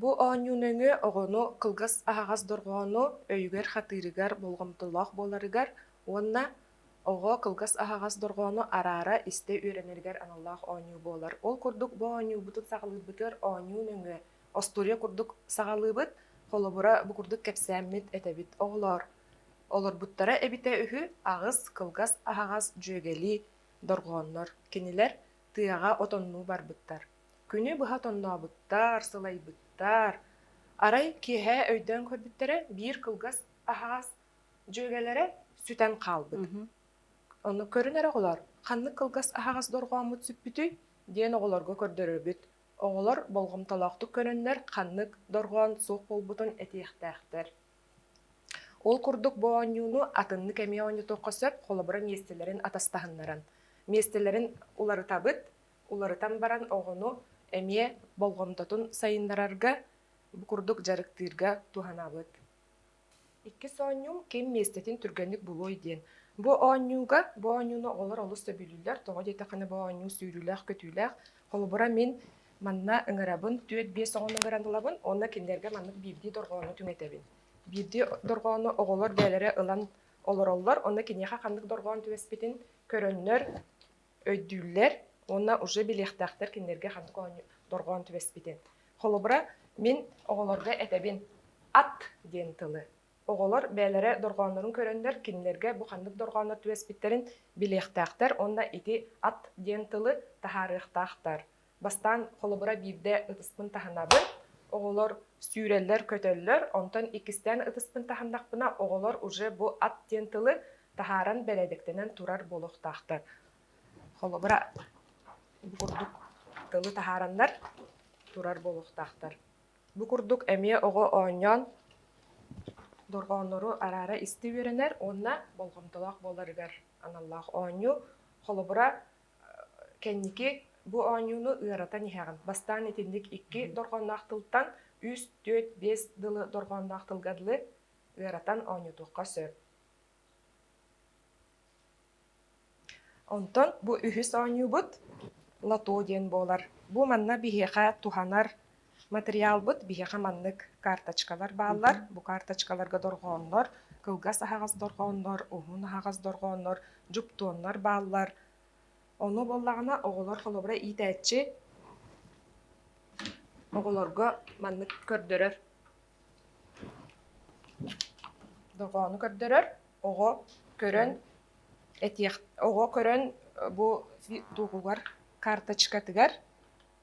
Бу оонньуу нөҥүө оҕону кылгас аһаҕас дорҕоону өйүгэр-хатыырыгар болҕомтолоох буоларыгар уонна оҕо кылгас аһаҕас дорҕоону араара истэ үөрэнэригэр аналлаах оонньуу буолар. Ол курдук бу оонньуубутун саҕалыырбытыгар оонньуу нөҥүө остуоруйа курдук саҕалыыбыт. Холобура, бу курдук кэпсээммит этэбит оҕолоор. Олорбуттара эбитэ үһү аҕыс кылгас аһаҕас дьүөгэлии дорҕооннор. Кинилэр тыаҕа отоннуу барбыттар. Күнү быһа тоннообуттар, сылайбыттар. Арай киэһэ өйдөөн көрбүттэрэ, биир кылгас аһаас дьүөгэлэрэ сүтэн хаалбыт. Мгм. Ону көрүн эрэ оҕолор, ханнык кылгас аһаҕас дорҕооммут сүппүтүй? диэн оҕолорго көрдөрөрбүт. Оҕолор болҕомтолоохтук көрөннөр ханнык дорҕоон суох буолбутун этиэхтээхтэр. Ол курдук бу оонньууну атыннык эмиэ оонньотуохха сөп, холобура, миэстэлэрин атастаһыннаран. Миэстэлэрин уларытабыт, уларытан баран оҕону эмиэ болҕомтотун сайыннарарга, бу курдук дьарыктыырга туһанаабыт. Иккис оонньуу ким миэстэтин түргэнник булуой диэн. Бу оонньууга, бу оонньууну оҕолор олус сөбүлүүллэр. Тоҕо диэтэххинэ, бу оонньуу сүүрүүлээх-көтүүлээх. Холобура, мин манна ыҥырабын, түөрт-биэс оҕону ыҥыран ылабын уонна кинилэргэ маннык биирдии дорҕоону түҥэтэбин. Биирдии дорҕоону оҕолор бэйэлэрэ ылан олороллор, онно киниэхэ ханнык дорҕоон түбэспитин көрөннөр, өйдүүллэр уонна уже билиэхтээхтэр кинилэргэ ханнык дорҕоон түбэспитин. Холобура, мин оҕолорго этэбин ат диэн тылы. Оҕолор бэйэлэрэ дорҕооннорун көрөннөр кинилэргэ бу ханнык дорҕооннор түбэспиттэрин билиэхтээхтэр уонна ити ат диэн тылы таһаарыахтаахтар. Бастаан холобура биирдэ ытыспын таһынабын, оҕолор сүүрэллэр-көтөллөр, онтон иккистээн ытыспын таһыннахпына, оҕолор уже бу ат диэн тылы таһааран бэрээдэктэнэн турар буолуохтаахтар. Холобура, бу курдук тылы таһаараннар турар буолуохтаахтар. Бу курдук эмиэ оҕо оонньоон дорҕооннору араара исти үөрэнэр уонна болҕомтолоох буоларыгар аналлаах оонньуу. Холобура, Кэнники бу оонньууну ыаратан иһэҕин. Бастаан итинник икки дорҕоонноох тылтан үс, түөрт, биэс дылы дорҕоонноох тылга дылы ыаратан оонньотуохха сөп. Онтон бу үһүс оонньуубут лото диэн буолар. Бу манна биһиэхэ туһанар Матырыйаалбыт биһиэхэ маннык, карточкалар бааллар, бу карточкаларга дорҕооннор, кылгас аһаҕас дорҕооннор, уһун аһаҕас дорҕооннор, дьуптуоннар бааллар. Ону буоллаҕына оҕолор холобура иитээччи оҕолорго маннык көрдөрөр. Дорҕоону көрдөрөр, оҕо көрөн этиэх, оҕо көрөн бу тугугар карточкатыгар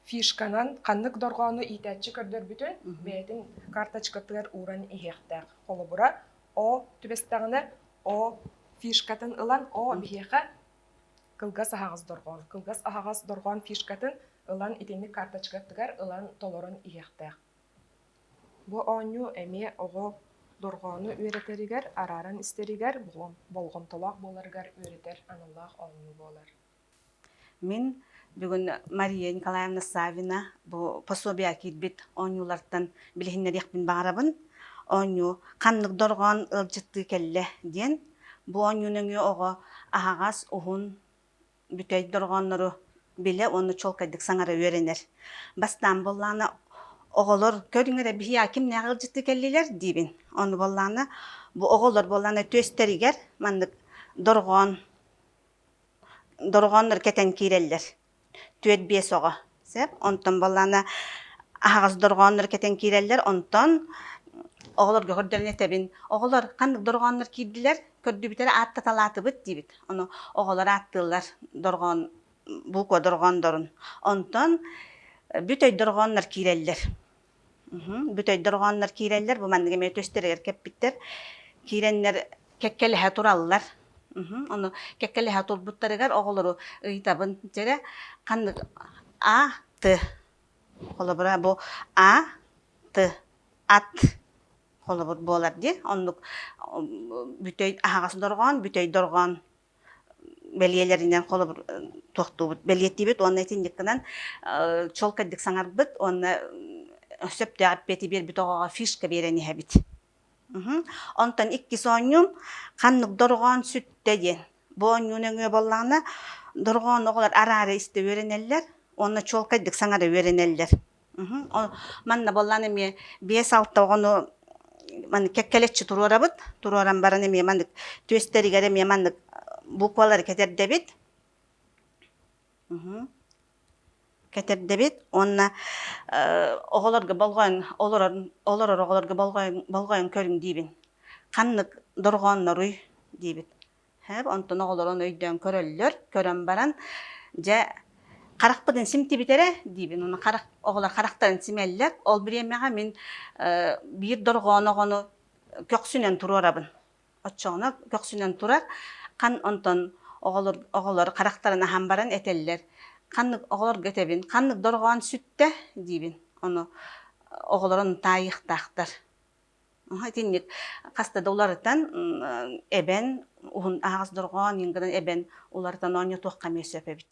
фишканан ханнык дорҕоону иитээччи көрдөрбүтүн бэйэтин карточкатыгар ууран иһиэхтээх. Холобура, О түбэстэҕинэ О фишкатын ылан О биһиэхэ кылгас аһаҕас дорҕоон. Кылгас аһаҕас дорҕоон фишкатын ылан итинник карточкатыгар ылан толорон иһиэхтээх. Бу оонньуу эмиэ оҕо дорҕоону үөрэтэригэр, арааран истэригэр болҕомтолоох буоларыгар үөрэтэр аналлаах оонньуу буолар. Мин бүгүн Мария Николаевна Савина бу пособие киирбит оонньуулартан билиһиннэриэхпин баҕарабын. Оонньуу ханнык дорҕоон ыалдьыттыы кэллэ диэн. Бу оонньуу нөҥүө оҕо аһаҕас, уһун, бүтэй дорҕооннору билэ уонна чуолкайдык саҥара үөрэнэр. Бастаан буоллаҕына оҕолор көрүҥ эрэ биһиэхэ кимнээх ыалдьыттыы кэллилэр диибин. Ону буоллаҕына бу оҕолор буоллаҕына түөстэригэр маннык дорҕоон дорҕооннор кэтэн киирэллэр түөрт биэс оҕо сөп онтон баллаана аһаҕас дорҕооннор кэтэн киирэллэр онтон оҕолорго көрдөрүнэтэбин оҕолор ханнык дорҕооннор киирдилэр көрдүбүтэрэ ааттаталаатыбыт диибит ону оҕолор ааттыыллар дорҕоон буква дорҕооннорун онтон бүт өй дорҕооннор киирэллэр Бүтэйдэр оҕоннор киирэллэр, бу маннык эмиэ түстэригэр кэппиттэр. Киирэннэр кэккэлэһэ тураллар. Ону кэккэлэһэ турбуттарыгар оҕолору ыйытабын. Дьэ, ханнык А, Т. Холобура, бу А, Т, ат холобур буолар дии. Оннук бүтэй аһаҕас дорҕоон, бүтэй дорҕоон бэлиэлэринэн холобур туохтуубут бэлиэтиибит уонна итинниккинэн чолкайдык саҥарбыт уонна сөптөөх эппиэти биэрбит оҕоҕо фишка биэрэн иһэбит онтон иккис оонньуум ханнык дорҕоон сүттэ диэн бу оонньуу нөҥүө буоллаҕына дорҕоон оҕолор араара истэ үөрэнэллэр уонна чуолкайдык саҥара үөрэнэллэр Манна боллан эмиэ биэс-алта оҕону маны кэккэлэччи туруорабыт. Туруоран баран эмиэ маннык түөстэригэр эмиэ маннык буквалары кэтэрдэбит. Кэтэрдэбит уонна оҕолорго болҕойон олорор олорор оҕолорго болҕойон болҕойон көрүҥ диибин. Ханнык дорҕоонноруй диибит. Һээп, онтон оҕолорун өйдөөн көрөллөр. Көрөн баран, дьэ, харахпытын симтибит эрэ диибин. Уну харах, оҕолор харахтарын симэллэр. Ол бириэмэҕэ мин э, биир дорҕоон оҕону көхсүнэн туруорабын. Оччоҕуна көхсүнэн турар, хан онтон оҕолор, оҕолор харахтарын аһан баран этэллэр. Ханнык оҕолорго этэбин, ханнык дорҕоон сүттэ диибин. Ону оҕолор ону таайыахтаахтар. итинник хаста да уларытан эбэн уһун аһаҕас дорҕоон ньынгынан эбэн уларытан оонньотуохха эмиэ сөп эбит